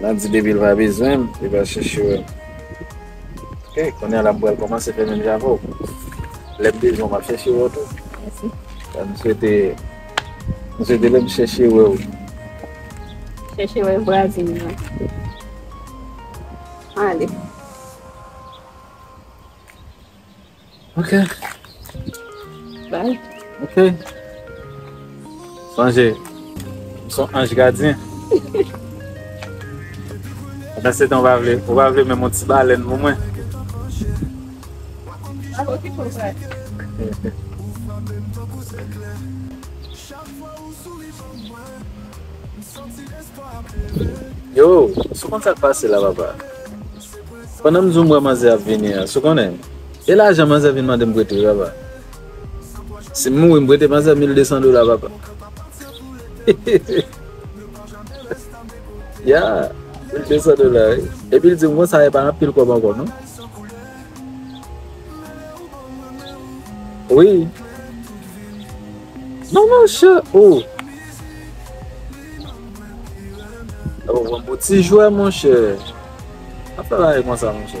Nan di depi l pa bezwen m li pral chèche wè m Ok kounye a la m pral kòmanse fè menm jan avè w Lè m bezwen w m ap chèche wè w tou Mèsi M swete M swete lè m chèche wè w Chèche wè vwazen m nan Ale. Ok. Bye. Ok. Sonje, m son anj gadyen. Pandan se tan ou pa vle, ou pa vle menm yon ti balèn pou mwen? Map okipe w frè. Yo, sou konn sa k pase la papa? Pandan m zoom wè manzè ap vini an, sou konnen m. E lajan manzè vin mande m prete yo papa. Si m mouri m prete manzè mil desan dola papa. Ya, mil desan dola wi. Epi l di m konsa e pa anpil kòb ankò non. Wi. Manman chat, oh. Ou bon pou ti jwè monchè. Ap travay konsa monchè.